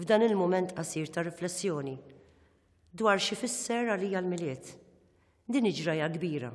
f'dan il-mument qasir ta' riflessjoni dwar xi fisser għalija l-Milied. Din iġraja kbira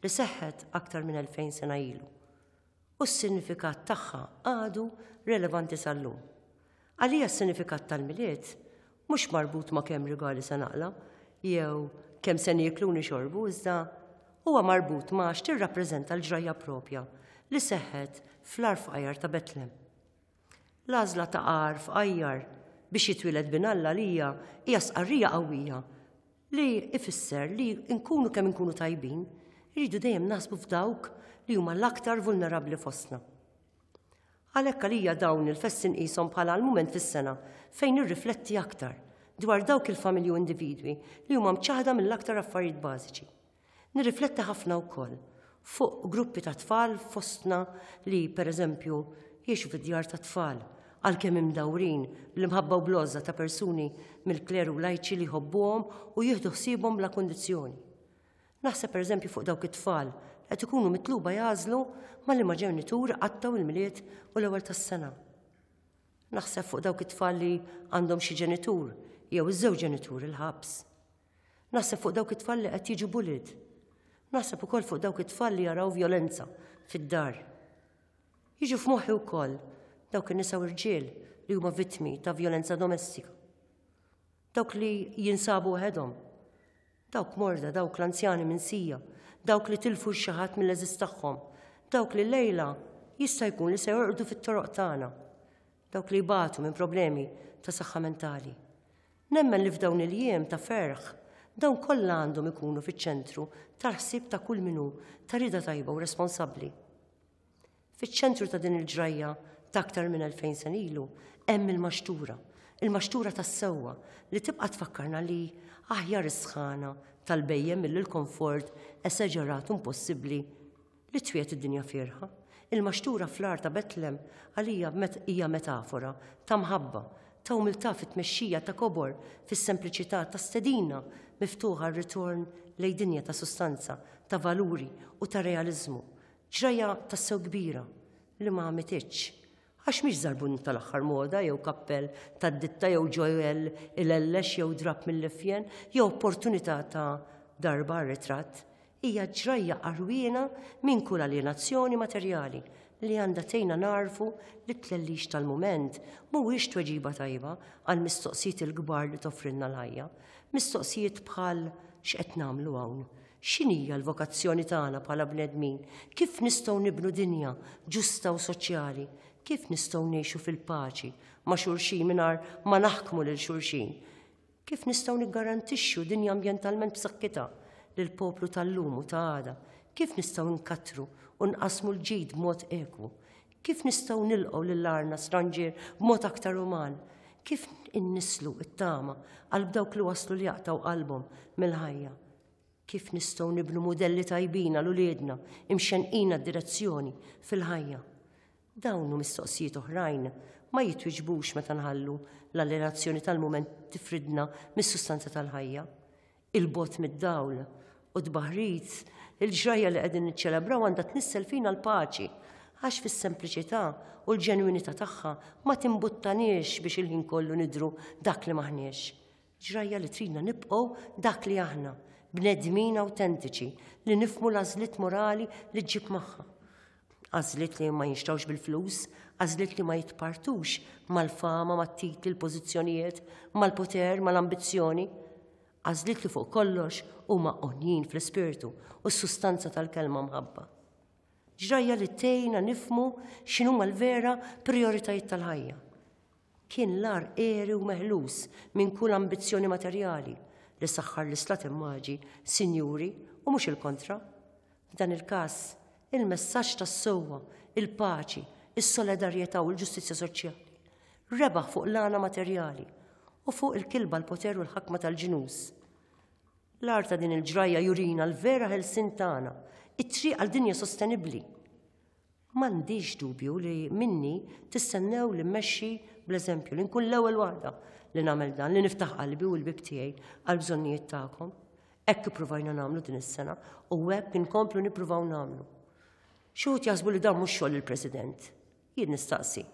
li seħħet aktar minn 2000 sena ilu u s-sinifikat tagħha għadu relevanti sal-lum. Għalija s-sinifikat tal-Milied mhux marbut ma' kemm rigali se naqla jew kemm se nieklu nixorbu iżda huwa marbut ma' x'tirrappreżenta l-ġrajja propja li seħħet fl-arfqajar ta' Betlem. L-għażla ta' għarf għajjar biex jitwieled bin Alla għalija hija stqarrija qawwija li ifisser li nkunu kemm inkunu tajbin, irridu dejjem naħsbu f'dawk li huma l-aktar vulnerabbli fostna. Għalhekk għalija dawn il-festi nqishom bħala l-mument fis-sena fejn nirrifletti aktar dwar dawk il-familji u individwi li huma mċaħda mill-aktar affarijiet bażiċi. Nirrifletti ħafna wkoll fuq gruppi ta' tfal fostna li, pereżempju, jgħixu fi djar tat-tfal, għalkemm imdawrin bl-imħabba u bl-għożża ta' persuni mill-kleru lajċi li jħobbuhom u jieħdu ħsiebhom bla kundizzjoni. Naħseb pereżempju fuq dawk it-tfal li qed ikunu mitluba jagħżlu ma' liema ġenitur iqattgħu il-Milied u l-Ewwel tas-Sena. Naħseb fuq dawk it-tfal li għandhom xi ġenitur jew iż-żewġ ġenituri l-ħabs. Naħseb fuq dawk it-tfal li qed jiġu bullied. Naħseb ukoll fuq dawk it-tfal li jaraw vjolenza fid-dar. Jiġu f'moħħi wkoll dawk in-nisa u rġiel li huma vittmi ta' vjolenza domestika. Dawk li jinsabu waħedhom. Dawk morda, dawk l-anzjani minn sija, dawk li tilfu xi ħadd mill-eżiż tagħhom, dawk li lejla jista' jkun li se jorqdu fit-toroq tagħna. dawk li jbatu minn problemi ta' saħħa mentali. Nemmen li f'dawn il-jiem ta' ferħ dawn kollha għandhom ikunu fiċ-ċentru tal-ħsieb ta' kull minnu ta' rida tajba u responsabbli. Fiċ-ċentru ta' din il-ġrajja ta' aktar minn 2000 sen ilu hemm il-maxtura, il-maxtura tas-sewwa li tibqa' tfakkarna li aħjar is-sħana tal-bejjem mill-komfort esaġerat impossibbli li twiegħed id-dinja fierħa. Il-maxtura fl-għar ta' Betlem għalija hija metafora ta' mħabba, ta' umiltà fit-tmexxija ta' kobor, fis-sempliċità ta' stedina miftuħa għar-ritorn lejn dinja ta' sustanza, ta' valuri u ta' realiżmu. Ġrajja tassew kbira li ma għamititx Għax mhix żarbun tal-aħħar moda jew kappell tad-ditta jew ġojell ilellex jew drapp mill-iffjen jew opportunità ta' darba għar-ritratt, hija ġrajja għarwiena minn kull aljenazzjoni materjali li għandha tgħinna nagħrfu li t-tlellix tal-mument mhuwiex tweġiba tajba għall-mistoqsijiet il-kbar li toffrilna l-ħajja, mistoqsijiet bħal x'qed nagħmlu hawn? X'inhija l-vokazzjoni tagħna bħala bnedmin? Kif nistgħu nibnu dinja ġusta u soċjali? Kif nistgħu ngħixu fil-paċi ma' xulxin mingħajr ma naħkmu lil xulxin? Kif nistgħu niggarantixxu dinja ambjentalment b'saħħitha lill-poplu tal-lum u ta' għada? Kif nistgħu nkattru u nqassmu l-ġid b'mod ekwu? Kif nistgħu nilqgħu lil għarna stranġier b'mod aktar uman? Kif innisslu t-tama qalb dawk li waslu li jaqtaw qalbhom mill-ħajja? Kif nistgħu nibnu mudelli tajbina l uliedna imxenqina d-direzzjoni fil-ħajja? Dawn u mistoqsijiet oħrajn ma jitwiġbux meta nħallu l-allerazzjoni tal-mument tifridna mis-sustanza tal-ħajja. il-bogħod mid-dawl u t-tbaħrit, il-ġrajja li qegħdin niċċelebraw għandha tnissel fina l-paċi, għax fis-sempliċità u l-ġenwinità tagħha ma timbuttaniex biex il-ħin kollu nidhru dak li m'aħniex. Ġrajja li tridna nibqgħu dak li aħna, bnedmin awtentiċi li nifhmu l-għażliet morali li ġġib magħha. Għażliet li ma jinxtrawx bil-flus, għażliet li ma jitpartux mal-fama, mat-titli, l-pożizzjonijiet, mal-poter, mal-ambizzjoni. Għażliet li fuq kollox huma onjin fl-ispirtu u s-sustanza tal-kelma mħabba. Ġrajja li tejna nifmu x'inhuma l-vera prioritajiet tal-ħajja. Kien l-agħar għeri u meħlus minn kull ambizzjoni materjali li saħħar l-Islat immaġi sinjuri u mhux il-kontra. F'dan il-każ, il-messaġġ tas-sewwa, il-paċi, is-solidarjetà u l-ġustizzja soċjali rebaħ fuq l-għana materjali u fuq il-kilba l-poter u l-ħakma tal-ġnus. L-art ta' din il-ġrajja jurina l-vera ħelsin tagħna, it-triq għal dinja sostenibbli. M'għandix dubju li minni tistennew li mmexxi bl-eżempju, li nkun l-ewwel waħda li nagħmel dan, li niftaħ qalbi u l-bib tiegħi għall-bżonnijiet tagħkom. Hekk ippruvajna nagħmlu din is-sena u hekk inkomplu nippruvaw nagħmlu. Xi wħud jaħsbu li dan mhux xogħol il-President. Jien nistaqsi.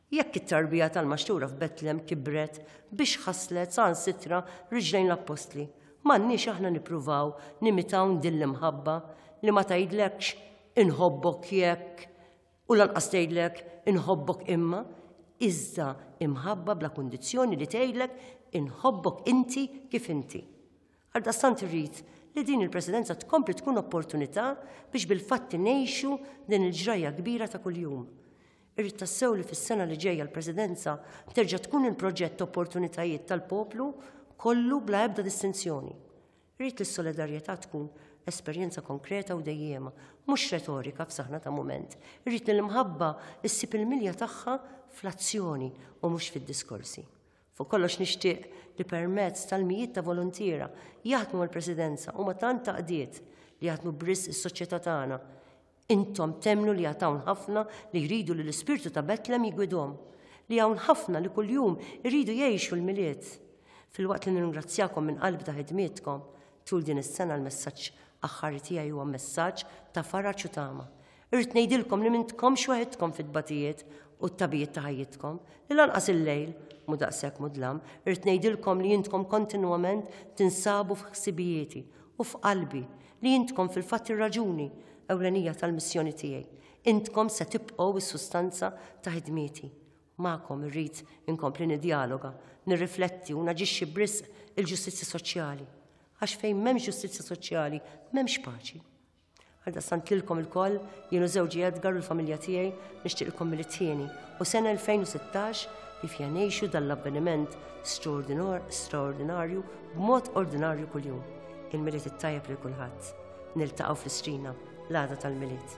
Jekk it-tarbija tal-Maxtura f'Betlem kibret biex ħasslet saħansitra riġlejn l-Appostli, m'għandniex aħna nippruvaw nimitawn din l-imħabba li ma tgħidlekx inħobbok jekk u lanqas tgħidlek inħobbok imma, iżda imħabba bla kundizzjoni li tgħidlek inħobbok inti kif inti. Għaldaqstant irrid li din il-Presidenza tkompli tkun opportunità biex bil-fatti ngħixu din il-ġrajja kbira ta' kuljum. Irrid tassew li fis-sena li ġejja l-Presidenza terġa' tkun il-proġett opportunitajiet tal-poplu kollu bla ebda distinzjoni. Irrid li s-solidarjetà tkun esperjenza konkreta u dejjiema, mhux retorika f'saħna ta' mument. Irrid li l-imħabba ssib il-milja tagħha fl-azzjoni u mhux fid-diskorsi. Fuq kollox nixtieq li permezz tal-mijiet ta' voluntiera jaħdmu mal-Presidenza huma tant taqdiet li jaħdmu b'risq is-soċjetà tagħna. Intom temmnu li għad hawn ħafna li jridu li l-ispirtu ta' Betlem jigwidhom, li hawn ħafna li kuljum iridu jgħixu l-Milied. Filwaqt li nirringrazzjakom minn qalbi ta' ħidmietkom tul din is-sena l-messaġġ aħħari tiegħi huwa messaġġ ta' faraġ u tama. Irrid ngħidilkom li m'intkomx waħidkom fit-tbatijiet u t-tagħbijiet ta' ħajjitkom, li lanqas il-lejl mhu daqshekk mudlam, irrid ngħidilkom li intkom kontinwament tinsabu f'ħsibijieti u f'qalbi, li intkom fil-fatt ir-raġuni ewlenija tal-missjoni tiegħi. Intkom se tibqgħu s-sustanza ta' ħidmieti. Magħkom irrid inkompli niddjaloga, nirrifletti u naġixxi b'risq il-ġustizzja soċjali. Għax fejn m'hemmx ġustizzja soċjali, m'hemmx paċi. Għaldaqstant lilkom ilkoll, jien u żewġi Edgar u l-familja tiegħi nixtieqilkom mill-ittieni u sena 2016 li fiha ngħixu dan l-avveniment straordinarju b'mod ordinarju kuljum. Il-Milied it-tajjeb lil kulħadd. Niltaqgħu fl-Istrina l-għada tal-Milied.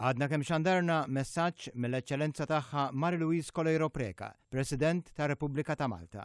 Għadna kemm xandarna messaġġ mill-Eċċellenza Tagħha Marie-Louise Coleiro Preca, President tar-Repubblika ta' Malta.